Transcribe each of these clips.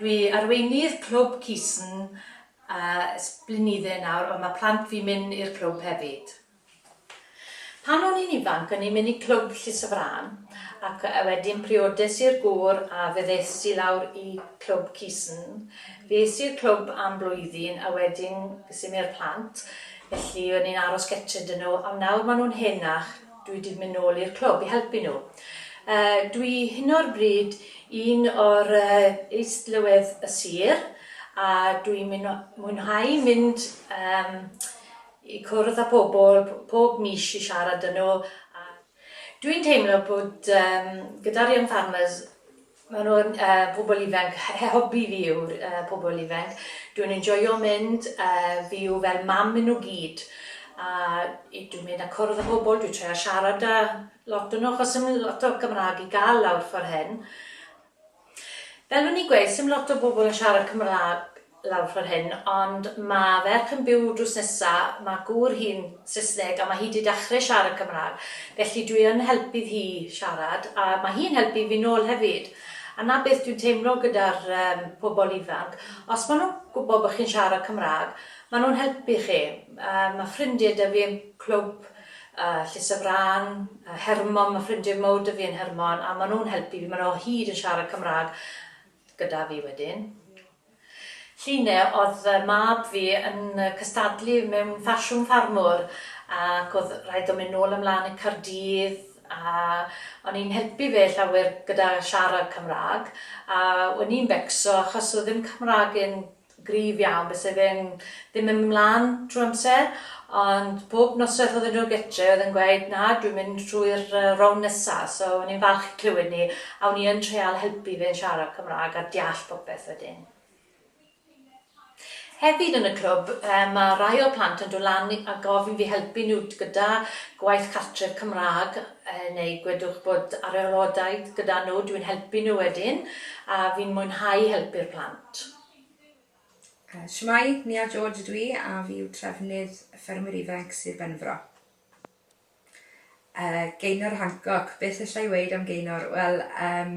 Dwi arweinydd clwb Cisen ers blinydde nawr ond mae plant fi'n mynd i'r clwb hefyd. Pan o'n i'n ifanc o'n i'n mynd i clwb Llys y Frân ac wedyn priodes i'r gŵr a fe ddes i lawr i clwb Cisen. Fe es i'r clwb am blwyddyn a wedyn ges i mi'r plant felly o'n i'n aros gytre 'da nhw ond nawr maen nhw'n henach Dwi 'di mynd nôl i'r clwb i helpu nhw. Dwi hyn o'r bryd un o'r Is-lywydd y Sir a dwi'n mwynhau mynd i cwrdd â pobl pob mis i siarad â nhw a dwi'n teimlo bod gyda'r Young Farmers Mae nhw'n pobl ifanc, hobi fi yw'r pobl ifanc. Dwi'n enjoio mynd, fi yw fel mam i nhw gyd. A dwi'n mynd a cwrdd â pobl, dwi'n trio siarad â lot o nhw achos ddim lot o Gymraeg i gael lawr ffordd hyn. Fel o'n i'n gweud, 'sdim lot o bobl yn siarad Cymraeg lawr ffor hyn ond ma ferch yn byw drws nesa ma gŵr hi'n sysneg a ma hi di dachre siarad cymrag felly dwi yn helpydd hi siarad a ma hi'n helpu fi nol hefyd a na beth dwi'n teimlo gyda'r um pobol ifanc os ma nhw'n gwbo bo chi'n siarad cymrag ma nhw'n helpu chi um ma ffrindie dy fi yn clwb uh llys y frân uh hermon ma ffrindie mowr dy fi yn hermon a ma nhw'n helpu fi ma nhw o hyd yn siarad cymrag gyda fi wedyn. Llun e odd y mab fi yn cystadlu mewn ffasiwn ffarmwr ac odd rhaid o mynd nôl a mlan i Cardydd a o'n i'n helpu fe llawer gyda siarad Cymrag a wen i'n becso achos odd ddim Cymrag e'n gryf iawn byse fe'n ddim yn mynd mlan trw amser ond bob nosweth odden nhw gytre oedd yn gweud na dwi'n mynd trwy'r rownd nesa so o'n i'n falch i clywed ni a o'n i yn treial helpu fe'n siarad Cymraeg a deall popeth wedyn. Hefyd yn y clwb ma rai o'r plant yn dod lan a gofyn fi helpu nhw gyda gwaith cartref Cymraeg neu gwedwch bod arylhodaeth gyda nhw dwi'n helpu nhw wedyn a fi'n mwynhau helpu'r plant. Shwmae, Nia George ydw i a fi yw trefnydd Ffermwyr Ifanc Sir Benfro. Uh, Gaynor Hancock, beth allai i weid am Gaynor? Wel, um,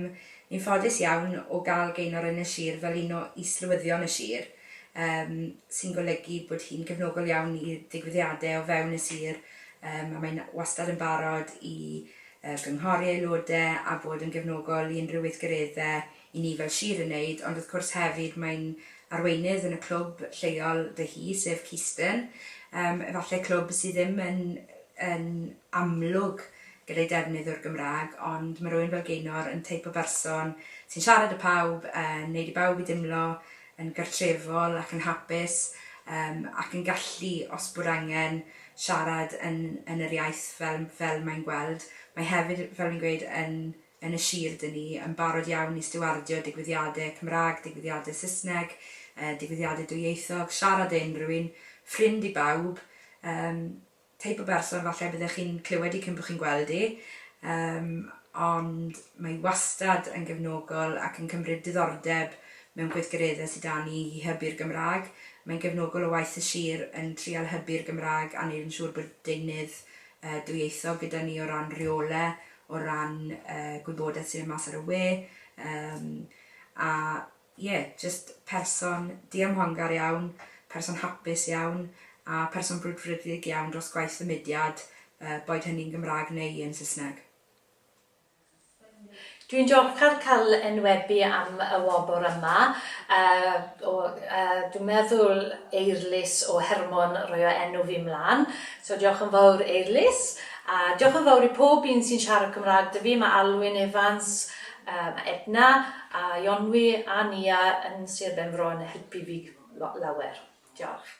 ni'n ffodus iawn o gael Gaynor yn y sir fel un o islywyddion y sir, um, sy'n golygu bod hi'n gefnogol iawn i ddigwyddiadau o fewn y sir, um, a mae'n wastad yn barod i uh, gynghori aelodau a bod yn gefnogol i unrhyw weithgareddau i ni fel sir yn wneud, ond wrth cwrs hefyd mae'n arweinydd yn y clwb lleol dy hi, sef Keystone, yym efallai clwb sydd ddim yn yn amlwg gyda'i defnydd o'r Gymraeg, ond mae rywun fel Gaynor yn teip o berson sy'n siarad â phawb, yn wneud i bawb i deimlo yn gartrefol ac yn hapus, yym ac yn gallu, os bod angen, siarad yn yn yr iaith fel fel mae'n gweld. Mae hefyd, fel fi'n gweud, yn yn y sir dŷn ni yn barod iawn i stiwardio digwyddiadau Cymraeg, digwyddiadau Saesneg, digwyddiadau dwyieithog, siarad â unrhyw un, ffrind i bawb, yym, teip o berson falle byddech chi'n clywed i cyn bod chi'n gweld i, yym, ond mae hi wastad yn gefnogol ac yn cymryd diddordeb mewn gweithgareddau sy 'da ni i hybu'r Gymraeg. Mae'n gefnogol o waith y sir yn trial hybu'r Gymraeg a wneud yn siŵr bod deunydd yy dwyieithog gyda ni o ran rheolau, o ran y gwybodaeth sy'n mynd mas ar y we yym a ie jyst person diymhongar iawn, person hapus iawn a person brwdfrydig iawn dros gwaith y mudiad yy boed hynny'n Gymraeg neu yn Saesneg. Dwi'n diolchgar cael enwebu am y wobr yma yy o yy dwi'n meddwl Eirlys o Hermon roio enw fi mlan so diolch yn fawr Eirlys A diolch yn fawr i pob un sy'n siarad Cymraeg 'da fi, mae Alwyn Evans, mae Edna, a Ionwy a Nia yn Sir Benfro yn helpu fi lawer. Diolch.